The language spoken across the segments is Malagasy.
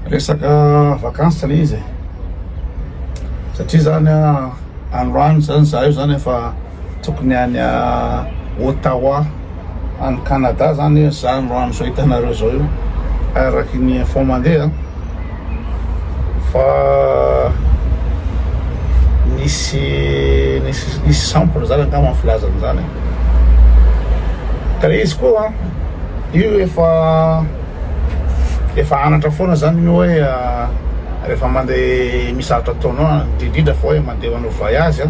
Resaka vacances ilay izy e. Satria zany androany zany za io zany efa tokony any Ottawa any Canada zany io za androany zao hitanareo zao io araky ny info mandeha fa nisy nisy nisy sample zany angamba filazany zany ka le izy koa io efa efa anatra foana zany ny hoe rehefa mandeha misy zavatra ataonao indrindrindra fa hoe mandeha manao voyage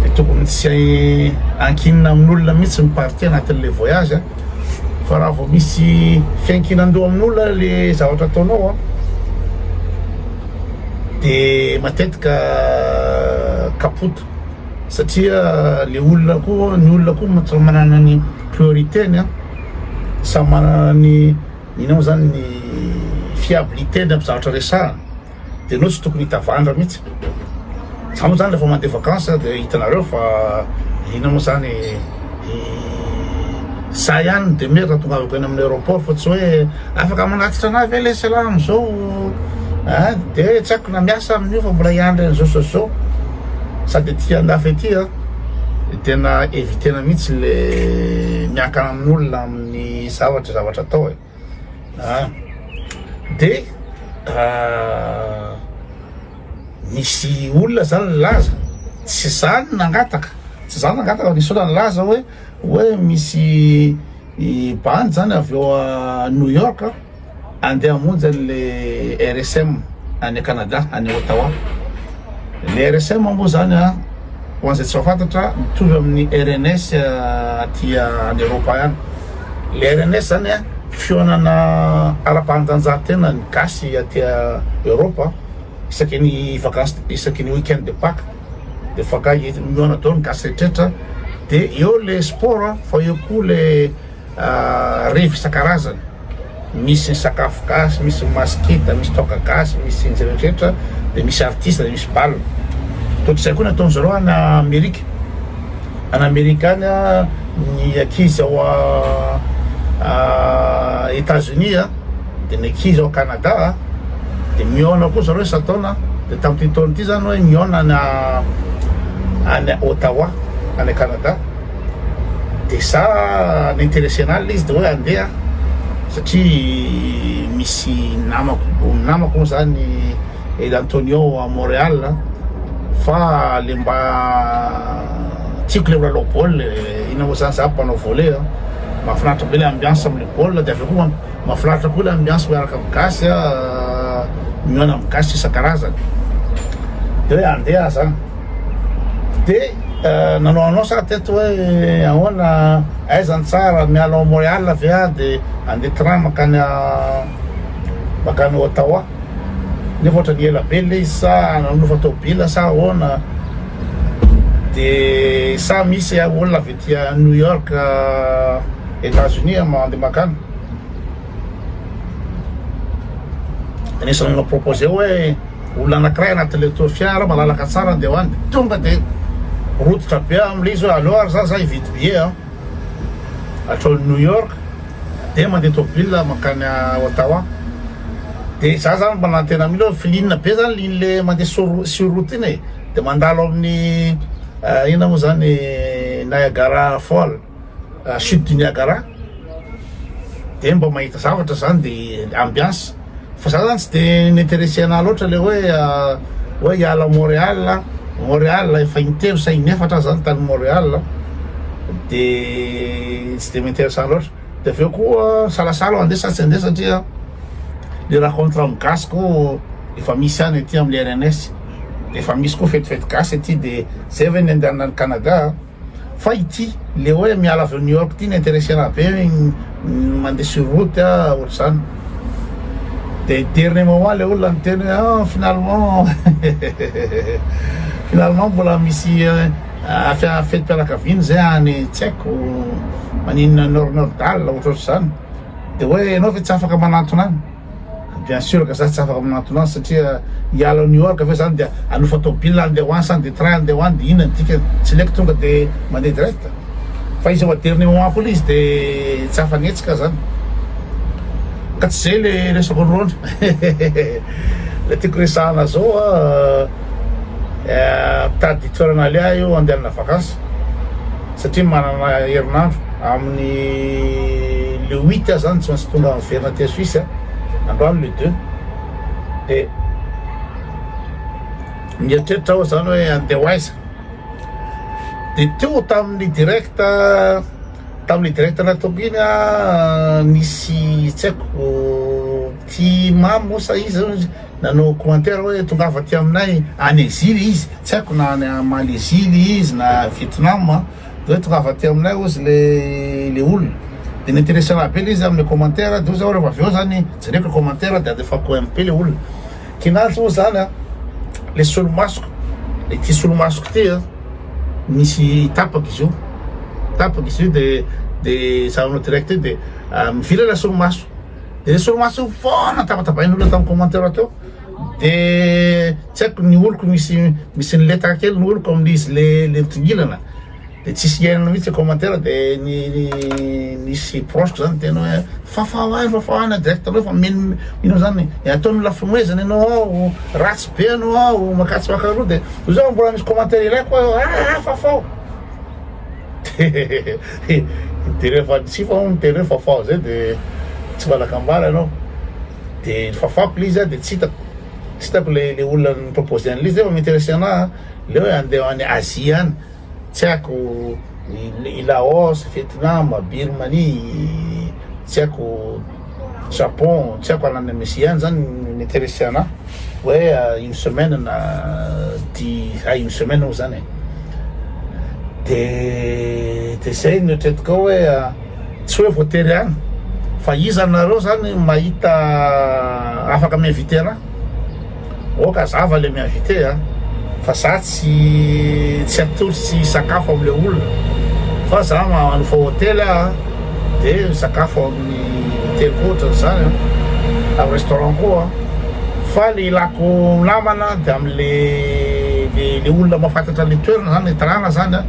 dia tokony tsy ankinina amin'olona mihitsy ny partie anatin'ilay voyage fa raha vao misy fiankinan-doha amin'olona le zavatra ataonao dia matetika kapote satria le olona koa ny olona koa ma- samy manana ny priorité-ny a samy manana ny ino moa zany ny fiabilité-ny amin'ny zavatra resahana de anao tsy tokony hitavandra mihitsy za moa zany rehefa mandeha vacances a de hitanareo fa ino moa zany za ihany ny demeure raha tongavako eny amin'ny aéroport fa tsy hoe Afaka manatitra anah ve le selah amzao ah de tsy aiko na miasa amin'io fa mbola hiandry an'izao sy zao sady ety andafy ety ah de tena evitena mihitsy le miankana amin'olona amin'ny zavatra zavatra atao e ah de misy olona zany nilaza tsy zany nangataka tsy zany nangataka fa nisy olona nilaza hoe oe misy bandy zany avy eo à New York andeha hamonjy anle RSM any Canada any Ottawa, le RSM moa zany a ho an'izay tsy mahafantatra mitovy amin'ny RNS aty any Eropa any, le RNS zany a fihaonana ara-pahanjanjantena ny gasy aty Eropa isaky ny vakansy isaky ny week-end de paque. de fakay eto ny miona daholo ny gasy rehetrretra de eo le sport a fa eo koa le ah, revy isan-karazany misy ny sakafo gasy misy ny maskita misy toaka gasy misy ny rehetrretra de misy artiste de misy bal totr'izay koa ny ataon'ny zareo any amerika any amerika any a ny ankizy ao a- a- États-Unis a dia ny ankizy ao Canada dia mihaona koa zareo isan-taona dia tamin'ity taona ity zany hoe mihaona any any Ottawa any Canada dia za n'interesena izy dia hoe andeha satria misy namako namako moa zany El Antonio à Montréal fa le mba tiako le milalao baolina e, ina moa zany za mpanao volley a, mahafinaritra be le ambiance. Olona de avy eo koa mafinaritra koa ilay ambiance miaraka amin'ny gasy a, mihaona amin'ny gasy isan-karazany. De hoe andeha aho zany. De nanao annonce aho teto hoe ahoana, aiza ny tsara, miala ao Montréal ve aho de handeha train mankany mankany Ottawa. Nefa ohatran'ny ela be ilay izy sa nanofa tôbila sa ahoana. De sa misy olona avy. Dia New York Etats Unis aho mandeha makany Anisany olona proposer hoe olona anakiray anatin'ilay tour fiara malalaka tsara andeha ho any Tonga dia rototra be aho amin'ilay izy hoe aleo ary za zay hividy billet an Hatrao New York dia mandeha tôbila mankany Ottawa Dia za zany manantena mihitsy hoe filinina be zany ligne mandeha sur route iny e! dia mandalo ao amin'ny inona moa izany Niagara Fall chute du Niagara dia mba mahita zavatra izany dia ambiance fa za zany tsy dia m'intéresser anah loatra le hoe hoe hiala ao Montréal Montréal efa intelo sa inefatra aho zany tany Montréal dia tsy dia m'intéresser loatra dia avy eo koa salasala aho handeha sa tsy handeha satria Le racontre amin'ny gasy ko efa misy any aty amin'ny rns de efa misy ko fetifety gasy aty de zay ve ny andehanana any Canada a! fa ity le oe miala avy ao New York ty ny interesena be ny mandeha sur route a ohatr'izany de dernier moment le olona niteny oe an finalement hehehehe finalement mbola misy fetim-pianakaviana zay any tsy haiko maninona nord-nordale ohatrohatr'izany. Dia hoe ianao ve tsy afaka manantona any? Bien sûr ka za tsy afaka manantona any satria hiala ao New York ve zany dia hanofa tôbila handeha ho any sa handeha train handeha ho any dia inona ny dikany? Tsy leko tonga dia mandeha direct. Fa izy ao aderny ao amiko ilay izy dia tsy afa-netsy ka zany. Ka tsy zay le resako an'irony. Le tiako resahana zao an, mitady toerana aleha io andehanana vakansy. satria manana herinandro amin'ny le huit aza zany tsy maintsy tonga miverina aty Suisse a, androany le deux de mieritreritra aho zany hoe andeha ho aiza de teo tamin'ny direct tamin'ny direct nataoko iny a nisy tsy haiko ty mamo sa iza Nanao commentaire hoe tongava aty aminay any exil izy tsy haiko na any Malaisie le izy na Vietnam a de hoe tongava aty aminay ozy le le olona de n'interessera be le izy amle commentaire de ozy aho refa avy eo zany jereko le commentaire de alefako MP le olona kinanjo moa zany a le solomasoko ity solomasoko ty a misy tapaka izy io tapaka izy io de de zahavanao direct eo de mivilana solomaso Dia soamaso foana tabatabain'olona tao amin'ny commentaire teo dia tsy haiko ny oloko misy misy niletaka kely ny oloko amin'ny izy le le mitongilana dia tsisy iainana mihitsy commentaire dia ny nisy proche zany teny hoe fafao any fafao any direct anao fa mino mino zany ataony lafinoezana ianao ao ratsy be ianao ao makatsy makaroa dia izao mbola misy commentaire iray koa ah fafao Intereo fa tsy fao intereo fa fao zay de tsy valaka ambara ianao de fafako le izy a de tsy hitako tsy hitako le le olona ni-propose an'le izy nefa mi-interesse anahy a le hoe andeha any Asie any tsy haiko i Laos, Vietnam, Birmanie tsy haiko Japon tsy haiko ananan'i Messi any zany mety hiresy anah hoe une semaine na dix à une semaine eo zany e de de zay no eritreretiko ao hoe tsy hoe voatery any fa iza nareo zany mahita afaka mi-inviter anah Oka zava le mi-inviter a! Fa za tsy tsy atolotro tsy hisakafo am le olona fa za manofa hotely aho a de misakafo amin'ny hoteliko ohatran'izany a, amin'ny restaurant ko a, fa le ilako namana de am le le le olona mahafantatra le toerana zany le tanàna zany a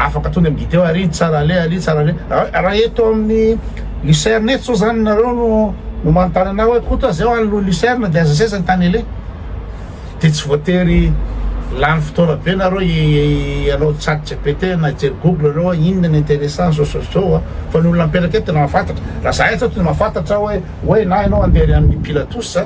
afaka tonga am gideo ary tsara ale ary tsara ale, raha eto amin'ny. Lucerne eto sao zany nareo no no manontany anah hoe koto aza eo any lo lucerne de aza seza ny tany ele de tsy voatery lany fotoana be nareo ianao chat gpt na hijery google reo hoe inona ny interessant zao sy zao a fa ny olona mipetraka eto tena mahafantatra raha za eto zao tena mahafantatra hoe hoe na ianao andeha any amin'ny pilatus a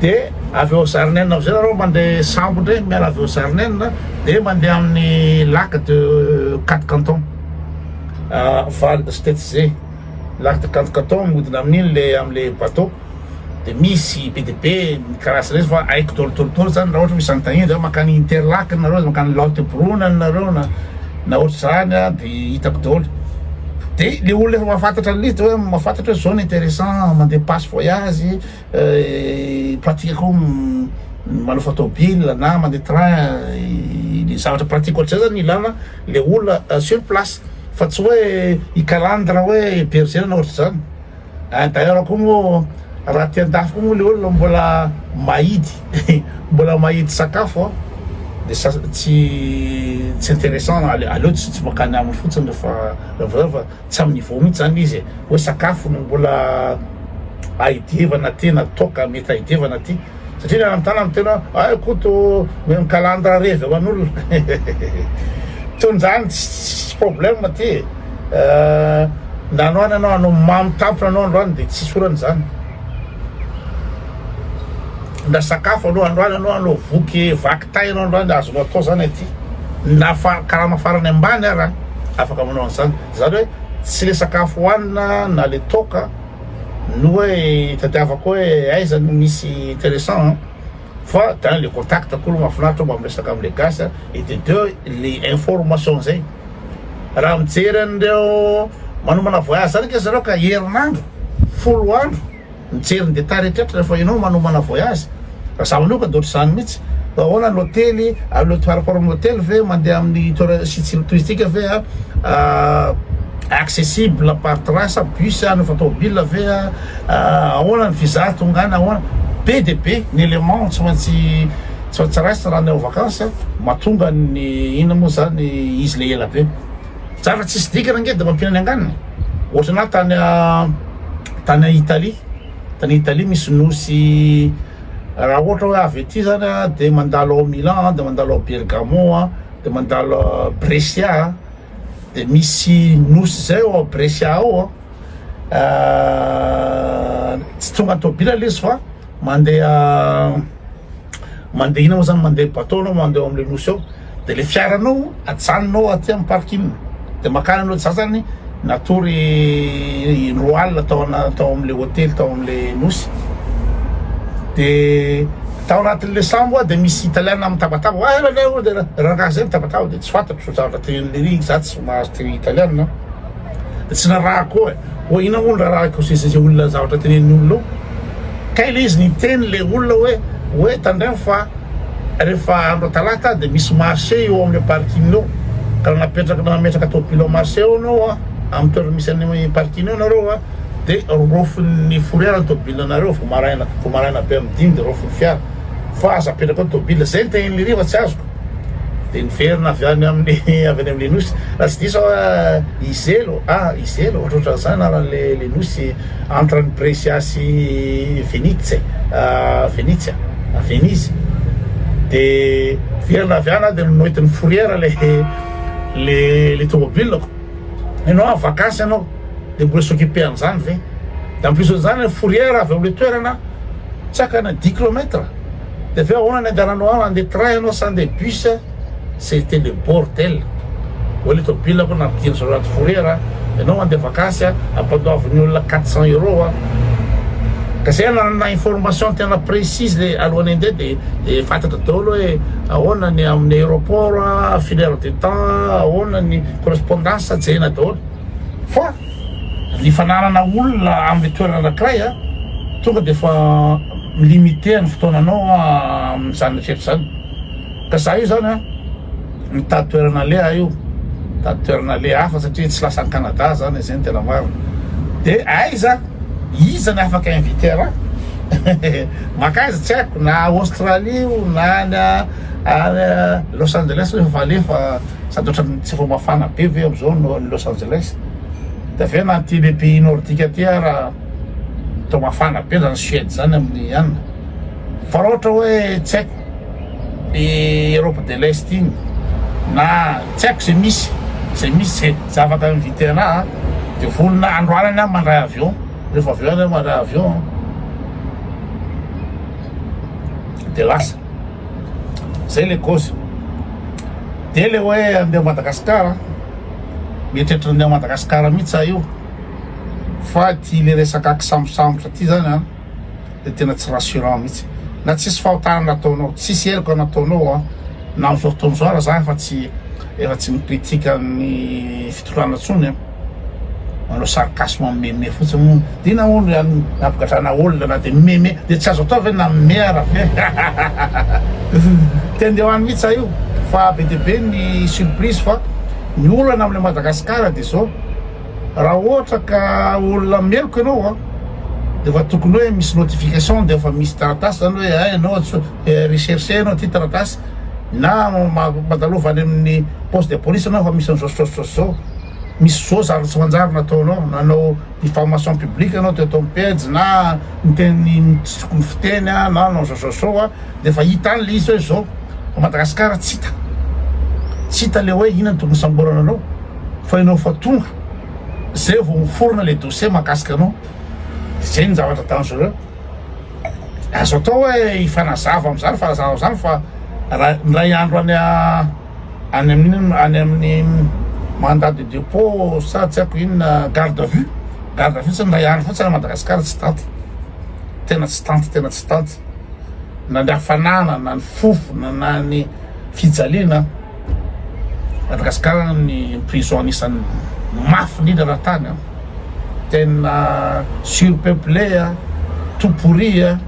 de avy eo zarinen avy zay nareo mande sambo ndray miala avy eo zarinen de mande aminy lac de quatre canton val de stetze lac de quatre canton mihodina amininy le amle bateau de misy be de be mikarasa retsy fa aiko dolo dolo dolo zany ra ohatry misy any tagniny zany makany interlac nareo de makany laut boronan nareo na na ohatry zany a de hitako dolo de le olona efa mafantatra anle izy de oe mafantatra oe zao ny interessant mande passe voyage pratique ko manofa tôbila na mandeha train ny zavatra pratique ohatr'izay zany ilana le olona sur place fa tsy hoe hikalandra hoe berger na ohatr'izany eh, d'ailleurs ko mo raha aty andafy ko mo le olona mbola mahidy mbola mahidy sakafo a de sa tsy tsy intéressant aleo tsy tsy mankany aminy fotsiny refa refa Tsy amin'ny niveau mihitsy zany le izy e, hoe sakafo no mbola ahidievana tena toaka mety ahidievana aty satria le any amin'ny tanana tena ay Koto mihaino kalandra revy aman'olona toy izany tsisy problème aty e, na androany ianao hanao mamy tampona ianao androany de tsisy olana izany. Na sakafo anao androany anao anao voky vaky tay anao androany dia azonao atao izany aty na karama farany ambany ara afaka manao an'izany izany hoe tsy ilay sakafo hohanina na ilay toaka no hoe hitadiavako hoe aiza no misy intéressant an fa tena ilay contact ko no mahafinaritra mba miresaka amin'ilay gasy et de deux ilay information izay raha mijery an'ireo manomana voyage zany nge zareo ka herinandro folo andro mijery ny détail rehetrretra rehefa ianao manomana voyage raha za manoka de ohatr'izany mihitsy fa ahoana ny hotely aleo par rapport amin'ny hotely ve mandeha amin'ny tour- site site touristique ve accessible par train sa bus no fa tômôbila ve ahoana ny visa tonga any ahoana be de be ny élément tsy maintsy Sao tsy raisina raha ny ao vakansy a! Mahatonga ny inona moa izany izy ilay ela be? Za efa tsisy dikany ange dia mampihinana angano e! Ohatran'ny ahy tany tany Italie, tany Italie misy nosy raha ohatra hoe avy aty izany a dia mandalo ao Milan a, dia mandalo ao Bergamo a, dia mandalo Brescia a, dia misy nosy izay ao Brescia ao a. tsy tonga tobila le izy fa mandeha mandeha ina moa zany mandeha bateau anao mandeha ao amle nosy ao de le fiaranao ajanonao aty am parking de makany anao za zany natory indroa alina tao ana tao amle hotely tao amle nosy de tao anatinle sambo a de misy italiana mitabataba oa ela leo de rangahy zay mitabataba de tsy fantatro zavatra teneninle iry za tsy mahazo teny italiana. tsy rarahako eo e, hoe inona moa no rarahiko sy izay olona zavatra tenenin'ny olona eo, kay le izy niteny le olona hoe hoe tandremo fa rehefa andro talata dia misy marché eo amin'ilay parking eo ka raha napetraka nametraka tôbily ao marché ao ianao a amin'ny toerana misy an'ny parking eo ianareo a dia rofin'ny fourrière ny tôbily anareo vao maraina vao maraina be amin'ny dimy dia rofin'ny fiara fa aza apetraka ao tôbily zay ny tenenin'i Riva tsy azoko Dia niverina avy any amin'ny avy any amin'ilay nosy. Raha tsy diso aho an, i Zelo, ah, i Zelo, ohatrohatran'izany anaran'ilay ilay nosy entre an'i Brescia sy Venice, ah, Venezia, ah, Venise. Dia niverina avy any aho dia noentin'ny fourrière ilay ilay ilay tomobilako. Ianao any vakansy ianao dia mbola s'occuper an'izany ve? Dia en plus an'izany ilay fourrière avy amin'ilay toerana tsy hakana dix kilomètres. De avy eo ahoana ny andehananao any, andeha train ianao sa andeha bus? C'était le bordel, oa le tôbila ko nampidiriny zao anaty fourrière a, ianao mandeha vakansy a, ampandoavin'ny olona quatre cents euros a, ka zay ananana information tena précise le alohan'ny andeha de de fantatra daholo hoe ahoana ny amin'ny aéroport a, filaire de temps a, ahoana ny correspondance a, jerena daholo. Fa ny fananana olona amin'ny toerana anankiray tonga dia efa mi-limiter ny fotoananao amin'izany rehetra izany. Ka izaho io izany mitady toerana aleha aho io, mitady toerana aleha hafa satria tsy lasa any Canada aho izany, izay no tena marina. Dia aiza, iza no afaka inviter ahy? Mankaiza tsy haiko, na Australie io, na any Los Angeles io efa aleha fa. Sady ohatran'ny tsy vao mafana be ve amin'izao no any Los Angeles? Dia avy eo na aty le pays nordique aty ara toa mafana be zany Suède zany amin'ny an. Fa raha ohatra hoe tsy haiko i Europe de l'Est iny na tsy haiko izay misy izay misy izay zava ka inviter anah a dia vonona androanany aho mandray avion rehefa avy eo any aho mandray avion dia lasa. zay le cause de le hoe andeha Madagascar mieritreritra andeha Madagascar mihitsy za io fa ty le resaka kisambosambotra ty zany an de tena tsy rassurant mihitsy na tsisy fahotana nataonao tsisy heloka nataonao an na amizao fotoana izao aza za efa tsy efa tsy mi-critique ny fitondrana intsony an manao sarcasme mimeme fotsiny moa ty nahoana ry anona nampigadrana olona na dia mimeme dia tsy azo atao ve na mimeme ara ve te andeha ho any mihitsy za io fa be dia be ny surprise fa ny olana amin'ilay Madagasikara dia zao raha ohatra ka olona meloka ianao a dia efa tokony hoe misy notification dia efa misy taratasy zany hoe a ianao atso- eh, recherche ianao ty taratasy na ma- mandalova any amin'ny poste de police ianao fa misy an'izao zao zao zao Misy zo zary tsy manjary nataonao, nanao diffamation publique ianao teto amin'ny pejy na niteny tsy tokony fiteny na nanao zao zao zao dia efa hita any le izy hoe zao fa Madagascar tsy hita tsy hita le hoe inona no tokony hisamborana anao fa ianao efa tonga zay vao miforona le dossier mahakasika anao dia zay ny zavatra dangereux azo atao hoe hifanazava amizany fanazava amizany fa raha ny ray andro any Any amin inona? Any amin'ny mandat de depot sa tsy haiko inona garde à vue? Garde à vue tsy indray andro fotsiny any Madagascar tsy tanty, tena tsy tanty tena tsy tanty na ny hafanana na ny fofona na ny fijaliana Madagascar ny prison anisan'ny mafy indrindra raha tany an, tena surpeuple an, tout pourri an.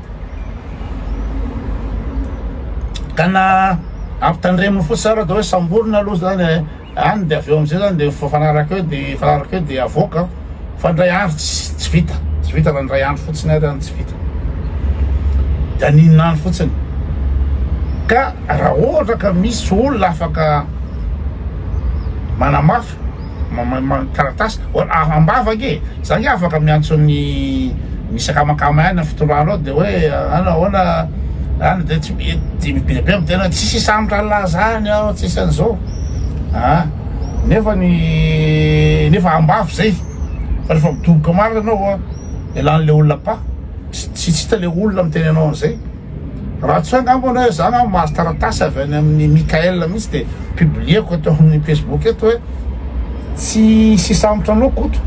Ka na ampitandreminy fotsiny zany atao hoe samborina aloha zany eh, any de avy eo amizay zany de mifanaraka eo de mifanaraka eo de avoaka fa ndray andro tsy tsy vita, tsy vita na ndray andro fotsiny ary any tsy vita. De aninona any fotsiny. Ka raha ohatra ka misy olona afaka manamafy taratasy ambava ange e! Za ange afaka miantso ny misy akamakama ihany ny fitondrana ao de hoe an ahoana an de tsy dia be dia be miteny hoe tsisy hisambotra an'la zany aho tsisy an'zao a! nefa ny nefa ambavy zay fa refa midoboka marina anao an elan'le olona apa! tsy hita le olona miteny anao an'zay. Raha tsy angamba anao hoe za angamba mahazo taratasy avy any amin'ny Mickaël mihitsy dia publieko eto amin'ny Facebook eto hoe tsy hisy hisambotra anao Koto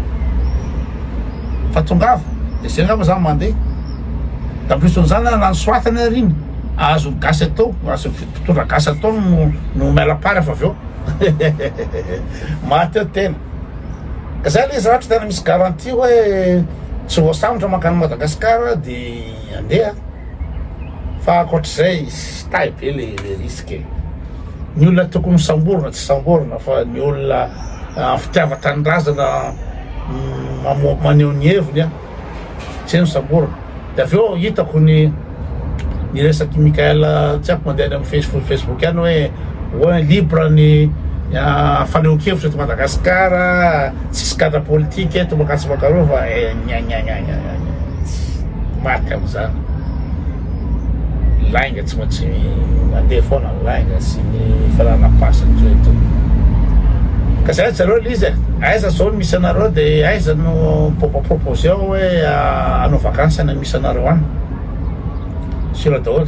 fa tongava dia zay angamba za mandeha. D'ampuison'izany na ny soatany ary iny azon'ny gasy atao, azon'ny mpitondra gasy atao no no mialapara fa avy eo maty eo tena. Ka zay le izy raha ohatra tena misy garantie hoe tsy voasambotra mankany Madagasikara dia. Andeha a! Fa ankoatr'izay stay be le le risque e! Ny olona tokony ho samborina tsy samborina fa ny olona an fitiavan-tanindrazana mamoa maneho ny heviny a! Zay no samborina! De avy eo hitako ny ny resak'i Mickaël tsy haiko mandeha any amin'ny face facebook any hoe hoe libre ny an fanehoan-kevitra eto Madagasikara a! Tsisy gadra politika eto mankatso mankarova e! Gnagnagnagna! tsy maty amin'izany lainga tsy maintsy mandeha foana ny lainga sy ny fanana passe toy eto ka zay zareo lizy e aiza zao ny misy anareo de aiza no propoposé ao hoe ah, anao vacances any misy anareo any sira daholo